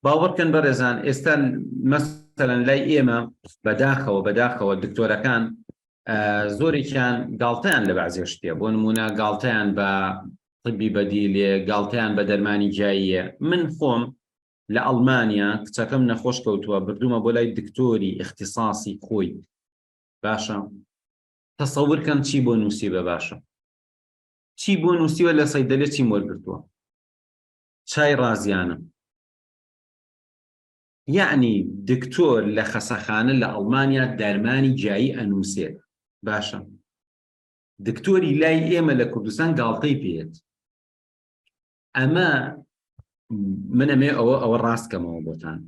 باوەڕکەن بەڕێزان ئێستا مەسەلەن لای ئێمە بەداخەوە بەداخەوە دکتۆرەکان زۆرێکیان گاڵتەیان لە بەعزێش پێ بۆ نمونە گاڵتەیان بە طبی بەدی لێ گاڵتەیان بە دەرمانی جاییە من خۆم لە ئەڵمانیا کچەکەم نەخۆش کەوتووە بردومە بۆ لای دکتۆری اختصاصی خۆی باشە تەسەورکەم چی بۆ نووسی بە باشە چی بۆ نووسیوە لە سەیدەلێ چی وەرگتووە چای ڕازیانم. یەعنی دکتۆر لە خەسەخانە لە ئەڵمانیا دەرمانی گیایی ئەنووسێت باشە دکتۆری لای ئێمە لە کوردستان گاڵتەی پێت ئەمە منەمێ ئەوە ئەوە ڕاستکەمەوە بۆتان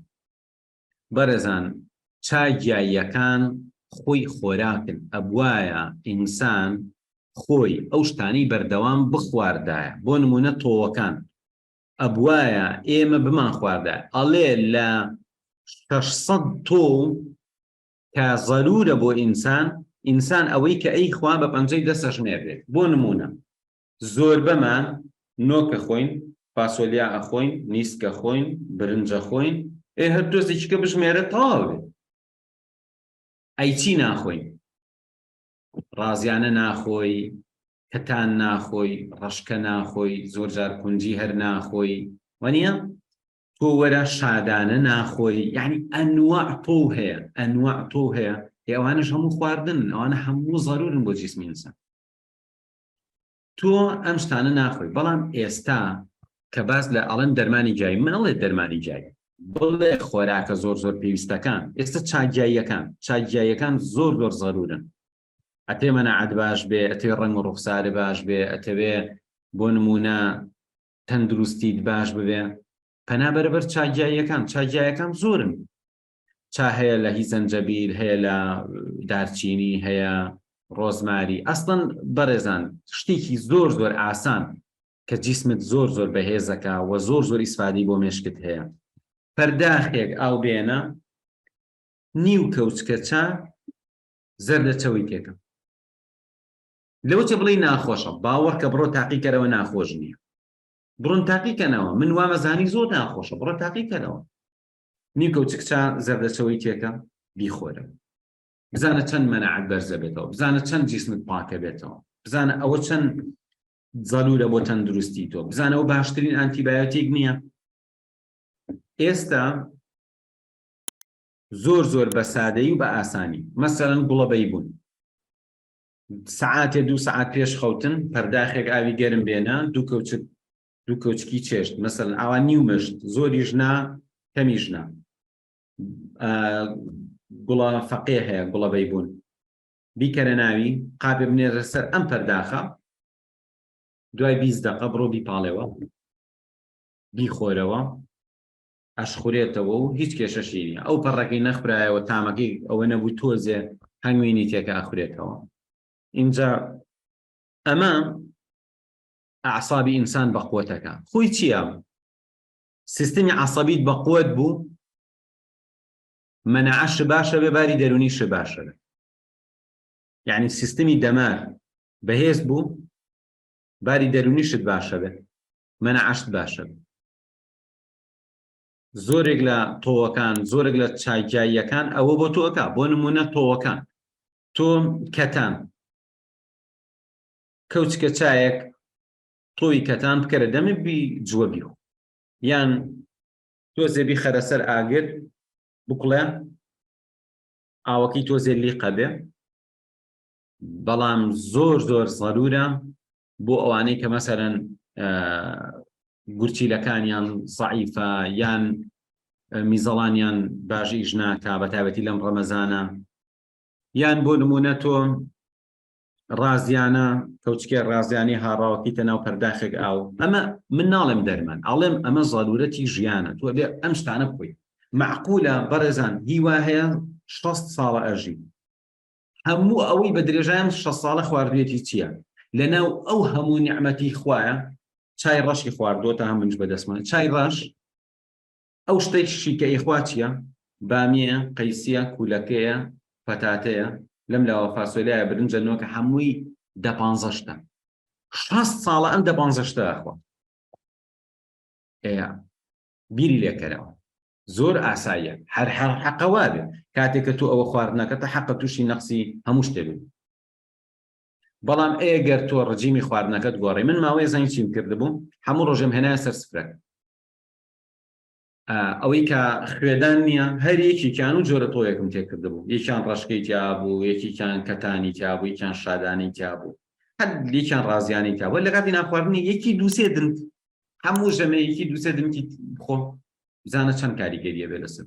بەڕێزان چا گیاییەکان خۆی خۆراکن ئەبوایە ئینسان خۆی ئەو شتانەی بەردەوام بخواردایە بۆ نمونە تۆوەکان ئەبوایە ئێمە بمان خواردایە ئەڵێ لە 600 تۆ کە زەرورە بۆ ئینسان ئینسان ئەوەی کە ئەی خوا بە پەنجەی دەسەژمێرێت بۆ نمونە زۆربەمان نۆکە خۆین، فاسۆلیا ئەخۆین، نیسکە خۆین، برنج ئەخۆین، ئێ هەر تۆزێکیکە بژمێرە تەواو بێ. ئەی چی ناخۆین؟ ڕازیانە ناخۆی، کەتان ناخۆی، ڕەشکە ناخۆی، زۆر جار کونجی هەر ناخۆی، وانییە؟ تۆ وەرە شادانە ناخۆی، یەعنی ئەنواع تۆو هەیە، ئەنواع تۆو هەیە، ئێ ئەوانەش هەموو خواردنن، ئەوانە هەموو زەروورن بۆ جیسمی ئینسان. تۆ ئەم شتانە ناخۆی بەڵام ئێستا کە باس لە ئەڵەن دەرمانی جای منڵێ دەرمانی جای بڵێ خۆراکە زۆر زۆر پێویستەکان ئێستا چاگیاییەکان چاگیاییەکان زۆر زۆر زەرورن ئەتێ مەنەعات باش بێ ئەتێ ڕنگ و ڕوخسارە باش بێ ئەتەوێ بۆ نمونە تەندروستیت باش ببێ پەنا بەرەبەر چاگیاییەکان چاگیایەکان زۆرن چا هەیە لە هی زەنجەبیل هەیە لە دارچینی هەیە ڕۆزماری ئەستن بەڕێزان شتێکی زۆر زۆر ئاسان کە جیسمت زۆر زۆر بەهێزەکە و زۆر زۆر ئیسفادی بۆ مێشکت هەیە پەرداخێک ئاو بێنە نیو کەوچکە چا زەردە چەوی تێکە لەوچە بڵی ناخۆشە باوەڕکە بڕۆ تاقیکەرەوە ناخۆش نییە بڕۆن تاقیکەنەوە من وامەزانی زۆر ناخۆشە بڕۆ تاقیکەنەوە نیکۆ چ کچە زەردەچەوەیتێکە بیخۆرە بزانە چەند مەنەعەت بەرزە بێتەوە بزانە چەند جیسمت پاکە بێتەوە بزانە ئەوە چەند زەلورە بۆ تەندروستی تۆ بزانەوە باشترین ئەنتیبایۆتیک نییە ئێستا زۆر زۆر بە سادەی و بە ئاسانی مەسەرەن گوڵەبەی بوون سعاتێ دوو سعات پێش خەوتن پەرداخێک ئاوی گەرم بێنە دوو کەوچت دوو کۆچکی چێشت مەسەن ئاوا نیو مشت زۆریش نا کەمیش نا گوڵە فەقێ هەیە گوڵەبەی بوون بیکەرە ناوی قاپێ بنێرە سەر ئەم پەرداخە دوای بیست دقە بڕۆ بیپاڵێەوە بیخۆرەوە ئەشخورێتەوە و هیچ کێشەشی نیە ئەو پەڕەکەی نەخبرایەوە تامەکەی ئەوە نەبوو تۆزێ هەنگوینی تێکە ئەخورێتەوە اینجا ئەمە ئەعسابی ئینسان بەقوەتەکە خۆی چییە سیستمی عسەبیت بەقوەت بوو مەنەعش باشە بێ باری دەرونیش باشە یعنی سیستمی دەمار بەهێز بوو باری دەرونیشت باشە بێ مەنەعشت باشە بێ زۆرێک لە تۆوەکان زۆرێک لە چاکیاییەکان ئەوە بۆ تۆکە بۆ نمونە تۆوەکان تۆ کەتان کەوچکە چایەک تۆی کەتان بکەرە دەمی بی جووە بیخۆ یان تۆزێ بیخەرە سەر ئاگر بکڵێ ئاوەکەی تۆزێ لیقە بێ بەڵام زۆر زۆر زەرورە بۆ ئەوانەی کە مەسەرەن گورچیلەکانیان سەعیفە یان میزەڵانیان باش ئیش ناکا بە تابەتی لەم ڕەمەزانە یان بۆ نمونە تۆ ڕازیانە کەوچکێ ڕازیانی هاڕاوکیتە ناو پەرداخێک ئاو ئەمە من ناڵێم دەرمان ئاڵێم ئەمە زەلورەتی ژیانە تۆ بێ ئەم شتانە بکەی معقولە بەڕێزان هیوا هەیە 6 ساڵە ئەژی هەموو ئەوەی بە درێژایان 6 ساڵە خواردوێتی چییە لەناو ئەو هەموو نیعممەتی خویە چای ڕەشی خواردۆتە هەمنج بەدەستمان چای ڕەش ئەو شتەی شیکە ئیخوا چیە؟ بامیەیە قەیسیە کولەکەیە پەتاتەیە لەم لاوە فاسۆلیایە برنجە نۆکە هەمووی دە پانزە شتە شەست ساڵە ئەم دە پانزە شتە ئەخوا ئێ بیری لێکەرەوە زۆر ئاساییە هەر هەر حەقەوا بێ کاتێک کە تۆ ئەوە خواردنەکە تا حەقە تووشی نەقسی هەموو شتێ بێت بەڵام ئێگەر تۆ ڕجیمی خواردنەکەت گۆڕی من ماوەیە زانیچیم کردبوو هەموو ڕۆژێم هێنایە سەر سفرەکە ئەوەی کە خوێدان نییە هەر یەکێکیان و جۆرە تۆیەکم تێکردبوو یەکیان ڕشکەی تیابوو یەکیان کەتانی تیابوو یەکیان شادانی تیابوو هەر یەکیان ڕازیانی تیابوو لە کاتی ناخواردنی یەکی دووسێ دن هەموو ژەمەیەکی دووسێ دنکی خۆ بزانە چەند کاریگەریە بێ لەسەر